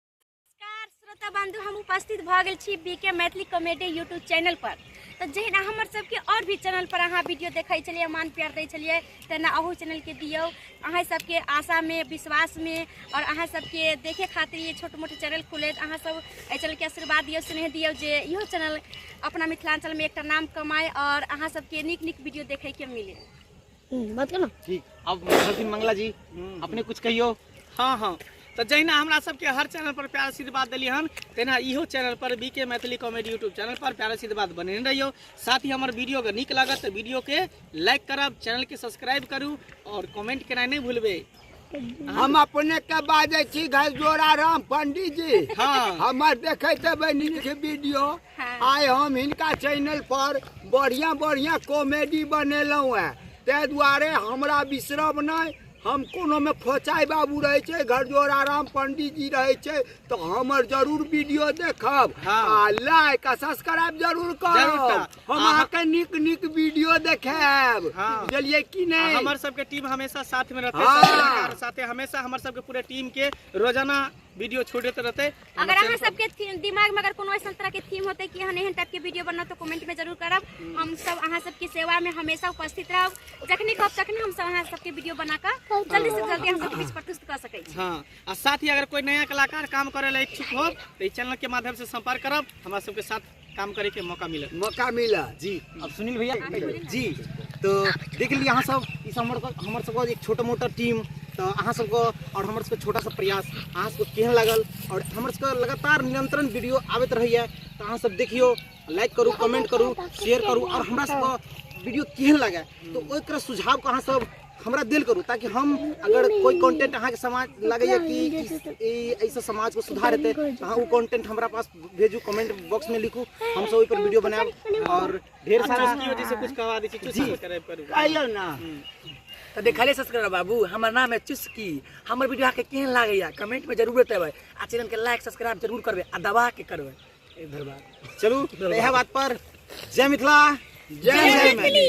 नमस्कार श्रोता बंधु हम उपस्थित भऽ गेल छी B K Maithili comedy YouTube channel पर तऽ जहिना हमर सबके आओर भी चैनल पर अहाँ वीडियो देखै छलियै मान प्यार दै छलियै तहिना अहू चैनल के दियौ अहाँ सबके आशा में विश्वास में और अहाँ सबके देखे खातिर ये छोट मोट चैनल खुले तऽ अहाँ सब एहि चैनल के आशीर्वाद दियौ स्नेह दियौ जे इहो चैनल अपना मिथिलांचल में एकटा नाम कमाए और अहाँ सबके नीक नीक वीडियो देखै के मिले हम्म, बात करो ठीक अब सरस्वती मंगला जी अपने कुछ कहियो हाँ हाँ तो जहिना हमरा सबके हर चैनल पर प्यार आशीर्वाद दिली हन तहिना इहो चैनल पर B K Maithili comedy YouTube channel पर प्यार आशीर्वाद बने रहियो साथ ही हमर वीडियो के नीक लागत तो वीडियो के लाइक करब चैनल के सब्सक्राइब करू और कमेंट केनाइ नहीं भूलबे हम अपने के बाजे छी घर जोड़ा राम पंडित जी हाँ। हमर देखते बनी के वीडियो हाँ। आय हम इनका चैनल पर बढ़िया बढ़िया कॉमेडी बनेलहुँ है ते दुआरे हमरा विश्रम नहीं हम कोनो में फोचाई बाबू रहे छे घर जोड़ा राम पंडित जी रहे छे तो हमर जरूर वीडियो देखब हाँ। आ लाइक आ सब्सक्राइब जरूर जरूर करब करब। हम अहाँके नीक नीक वीडियो देखाएब हाँ। बुझलिए कि नहीं हमर सबके टीम हमेशा साथ में रहते हाँ। साथे हमेशा हमर सबके पूरे टीम के रोजाना वीडियो छोड़ते रहते अगर अहाँ सबके दिमाग में अगर कोनो ऐसा तरह के थीम होते कि हने टाइप के वीडियो बनना तो कमेंट में जरूर करब हम्म। हम सब अहाँ सबके सेवा में हमेशा उपस्थित रहब जखने कहब तखने हम सब अहाँ सबके वीडियो बना के हाँ। जल्दी से जल्दी हम सब बीच प्रस्तुत कर सके छी हां आ साथ ही अगर कोई नया कलाकार काम करे ला इच्छुक हो तो इस चैनल के माध्यम से संपर्क करब हमरा सबके साथ काम करे के मौका मिलल मौका मिला जी अब सुनील भैया जी तो देख ली अहाँ सब इस हमर हमर सब एक छोटा मोटा टीम तो अहाँ सब और हमर सब छोटा सा प्रयास अहाँ सब केहन लागल और हमर सब लगातार निरंतरण वीडियो आबत रहिए तो अहाँ सब देखियो लाइक करू कमेंट करू शेयर करू और हमरा सब वीडियो केहन लगे तो ओकर सुझाव को अहाँ सब हमरा दिल करू ताकि हम अगर कोई कंटेंट अहाँ के समाज लगे कि ऐसा समाज को सुधार हेतै तो अहाँ वो कंटेंट हमरा पास भेजू कमेंट बॉक्स में लिखू हम सब ओहि पर वीडियो बनाएब और ढेर सारा की वजह से कुछ करवा दी चुस्की जी। करे पर आइयो ना तो देखले सब्सक्राइबर बाबू हमर नाम है चुस्की हमर वीडियो अहाँके केहन लागैया कमेंट में जरूर बतेबै आ चैनल के लाइक सब्सक्राइब जरूर करबै आ दबा के करबै एक भर बात चलू तो यह बात पर जय मिथिला जय जय मैथिली